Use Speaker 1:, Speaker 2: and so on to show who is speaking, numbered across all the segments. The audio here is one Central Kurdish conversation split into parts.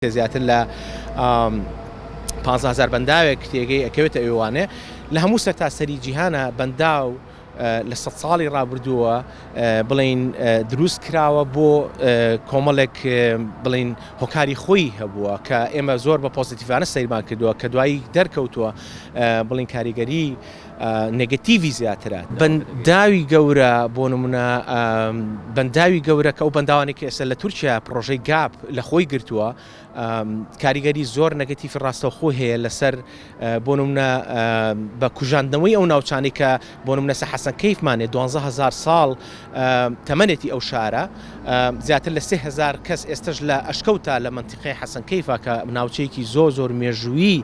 Speaker 1: کە زیاتر لە پانزە هەزار بەنداوێک تێگەی ئەکەوێتە ئەوێوانێ لە هەموو سەرتاسەری جیهانە بەنداو لە سەد ساڵی ڕابردووە بڵین دروست کراوە بۆ کۆمەڵێک بڵین هۆکاری خۆی هەبووە کە ئێمە زۆر بە پۆزیتیڤانە سەیرمان کردووە کە دوایی دەرکەوتووە بڵین کاریگەری نێگەتیڤی زیاترە. بەنداوی گەورە، بۆ نموونە بەنداوی گەورە کە ئەو بەنداوانەی کە ئێستا لە تورکیا پڕۆژەی گاپ لە خۆی گرتووە، کاریگەری زۆر نێگەتیڤی ڕاستەوخۆ هەیە لەسەر بۆ نموونە بە کوژاندنەوەی ئەو ناوچانەی کە بۆ نموونە سە حەسەنکەیفمان هەیە دوانزە هەزار ساڵ تەمەنێتی ئەو شارە، زیاتر لە سێ هەزار کەس ئێستەش لە ئەشکەوتە لە مەنتیقەی حەسەنکەیفە کە ناوچەیەکی زۆر زۆر مێژوویی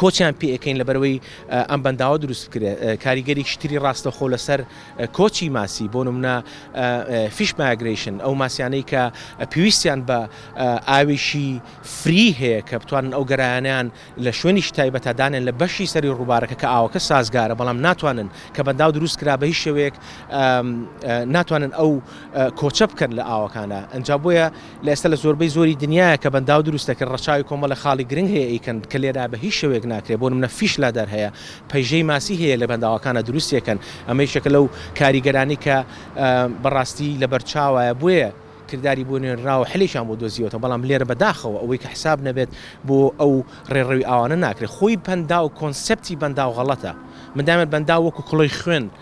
Speaker 1: کۆچیان پێ ئەکەین لەبەرەوەی ئەم بەنداوە دروست بکرێت کاریگەریکی تری ڕاستەخۆ لەسەر کۆچی ماسی بۆ نمونە فیش ماگریشن ئەو ماسیانەی کە پێویستیان بە ئاویشی فری هەیە کە بتوانن ئەو گەرایانیان لە شوێنیش تایبەتە دانێن لە بەشی سەری ڕووبارەکە کە ئاوەکە سازگارە بەڵام ناتوانن کە بەنداو دروست کرا بە هیچ شێوەیەک ناتوانن ئەو کۆچە بکەن لە ئاوەکانە ئەجا بۆیە لە ئێستا لە زۆربەی زۆری دنیایە کە بەنداو دروست دەکرێت ڕەچاوی کۆمەڵێک خاڵی گرنگ هەیە ئەیکەن کە لێرە بە هیچ شێوەیەک ناکرێت بۆ نمونە فیش لادەر هەیە پەیژەی ماسی هەیە لە بەنداوەکانا دروستی ئەکەن ئەمە یەکێکە لەو کاریگەرانەی کە بە ڕاستی لە بەر چاوایە بۆیە کرداری بۆ نوێنراوە حلێکیان بۆ دۆزیوەتەوە بەڵام لێرە بە داخەوە ئەوەی کە حساب نەبێت بۆ ئەو ڕێڕەوی ئاوانە ناکرێت خۆی پەنداو کۆنسێپتی بەنداو غەڵەتە من دایمەن بەنداو وەکو کڵۆی خوێن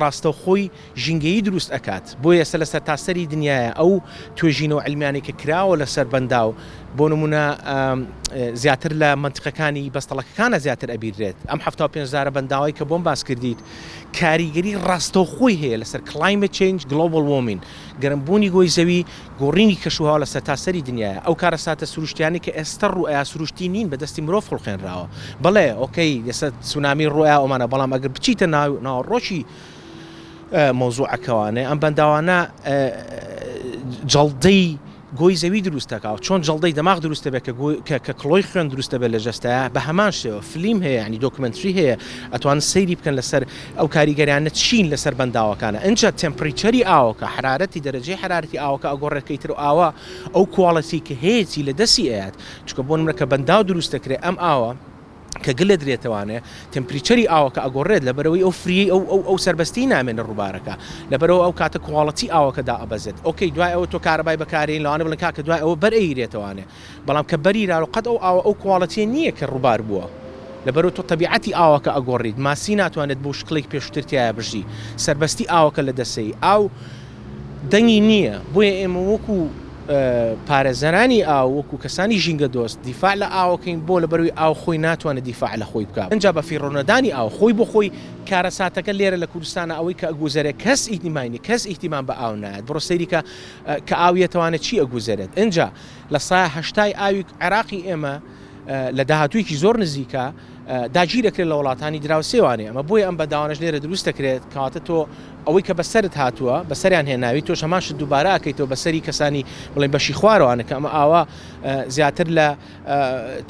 Speaker 1: ڕاستەوخۆی ژینگەیی دروست ئەکات بۆیە سە لەسەرتاسەری دنیایە ئەو توێژینە و علمیانەی کە کراوە لەسەر بەنداو بۆ نمونە زیاتر لە مەنتقەکانی بەستەڵەکەکانە زیاتر ئەبیررێت ئەم حەفتا و پێنج هەزارە بەنداوەی کە بۆم باس کردیت کاریگەری ڕاستەوخۆی هەیە لەسەر کلایمەت چەینج گلۆبڵ وۆمین گەرم بوونی گۆی زەوی گۆڕینی کەشوهەوا لە سەرتاسەری دنیایە، ئەو کارەساتە سروشتیانەی کە ئێستە ڕوئەیا سروشتی نین بە دەستی مرۆڤ خوڵقێنراوە، بەڵێ ئۆکەی ئێستە تسونامی ڕوئەیا ئەومانە بەڵام ئەگەر بچیتە ناوەڕۆکی مەوزوعەکەوانێ ئەم بەنداوانە جەڵدەی گۆی زەوی دروست دەکا چۆن جەڵدەی دەماغ دروست دەبێ کە گۆی کە کە کڵۆی خوێن دروست دەبێ لە جەستەیا بە هەمان شێوە فلیم هەیە یانی دۆکمەنتری هەیە ئەتوانن سەیری بکەن لەسەر ئەو کاریگەریانە چین لەسەر بەنداوەکانە؟ ئنجا تێمپریچەری ئاوەکە، حەرارەتی، دەرەجەی حەرارەتی ئاوەکە ئەگۆڕێت کەیتر و ئاوە ئەو کوالێتی کە هەیەتی لە دەستی ئەیات. چونکە بۆ نمرە کە بەنداو دروست دەکرێت ئەم ئاوە کە گلە درێتەوانێ تێمپریچەری ئاوەکە ئەگۆڕێت لەبەرئەوەی ئەو فریەی ئەو ئەو ئەو سەربەستیەی نامێنێ ڕووبارەکە لەبەرئەوە ئەو کاتە کوالێتی ئاوەکە دائەبەزێت. ئۆکەی دوای ئەوە تۆ کارەبای بەکارێی لەوانە بڵێن کاکە دوای ئەوە بەر ئەیرێتەوانێ. بەڵام کە بەری رارۆ قەت ئەو ئاوە ئەو کواڵێتیە نیە کە روبار بوە لەبەرو تۆ تەبیعەتی ئاوەکە ئەگۆڕیت ماسی ناتوانێت بەو شکڵەی پێشوتر تیایا بژی سەربەستی ئاوەکە لە دەسەی ئاو دەنگی نیە بۆیە ئێمە وەکو پارێزەرانی ئاو وەکو کەسانی ژینگە دۆست دیفاع لە ئاوەکەین بۆ لەبەروی ئاو خۆی ناتوانێت دیفاع لە خۆی بکا ئەنجا بە فیڕۆ نەدانی ئاو خۆی بۆ خۆی کارەساتەکە لێرە لە کوردستانا ئەوەی کە ئەگوزەرێت کەس ئیتیمای نیە کەس ئیهتیمام بە ئاو نایەت بڕۆ سەیری کە کە ئاو یەتوانێت چی ئەگوزەرێت ئەنجا لە سایە هەشتای ئاوی عێراقی ئێمە لە داهاتوویەکی زۆر نزیکە داگیر دەکرێت لە وڵاتانی دراوسێوانێ ئەمە بۆیە ئەم بەداوانەش لێرە دروست دەکرێت کەواتە تۆ ئەوەی کە بەسەرت هاتووە بەسەریان هێناوی تۆش هەمان شت دووبارە ئەکەیتەوە بەسەری کەسانی بڵێن بەشی خوارەوانە کە ئەمە ئاوا زیاتر لە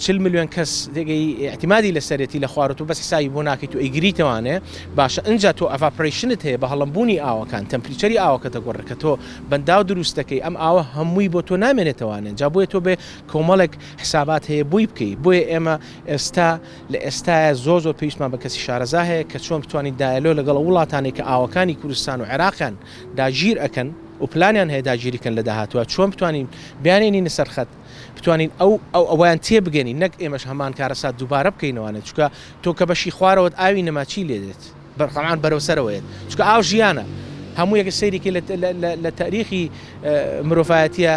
Speaker 1: چل میلیۆن کەس دێگەی احتیمادی لەسەرێتی لە خوارەوە تۆ بەس حسابی بۆ ناکەیت و ئەیگریتەوانێ باشە ئەنجا تۆ ئەڤاپرەیشنت هەیە بە هەڵمبوونی ئاوەکان تەمپریچەری ئاوەکە دەگۆڕێت کە تۆ بەنداو دروست دەکەی ئەم ئاوە هەمووی بۆ تۆ نامێنێتەوانێن جا بۆیە تۆ بێ کۆمەڵێک حسابات هەیە بۆی بکەی بۆیە ئێمە ئێستا لە ئێستاە زۆر زۆر پێویستمان بە کەسی شارەزا هەیە کە چۆن بتوانین دایەلۆ لەگەڵ ئەو وڵاتانەی کە ئاوەکانی کوردستان و عێراقیان داگیر ئەکەن و پلانیان هەیە داگیری کەن لە داهاتوە چۆن بتوانین بیانێنینە سەر خەت بتوانین ئەو ئەو ئەویان تێبگەنین نەک ئێمەش هەمان کارەسات دووبارە بکەینەوانێت چکە تۆ کە بەشی خوارەوەت ئاوی نەما چی لێدێت بەرقەران بەرەو سەرەوە یەت چونکە ئاو ژیانە هەموو یەکە سەیری کە لە تاریخی مرۆڤایەتە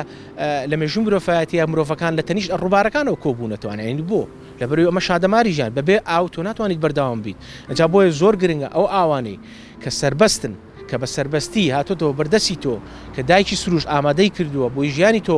Speaker 1: لە مێژوو مرۆڤایەتە مرۆڤەکان لە تەنیش ڕووبارەکانەوە کۆبوونەتوانانی یعنی بۆ لەبەر ئەمە شادەماری ژیان بەبێ ئاو تۆ ناتوانیت بەرداوام بیت ئەجا بۆیە زۆر گرنگە ئەو ئاوانەی کە سربەستن کە بە سربەستی هاتۆتەوە بەردەسی تۆ کە دایکی سروش ئامادەی کردووە بۆی ژیانی تۆ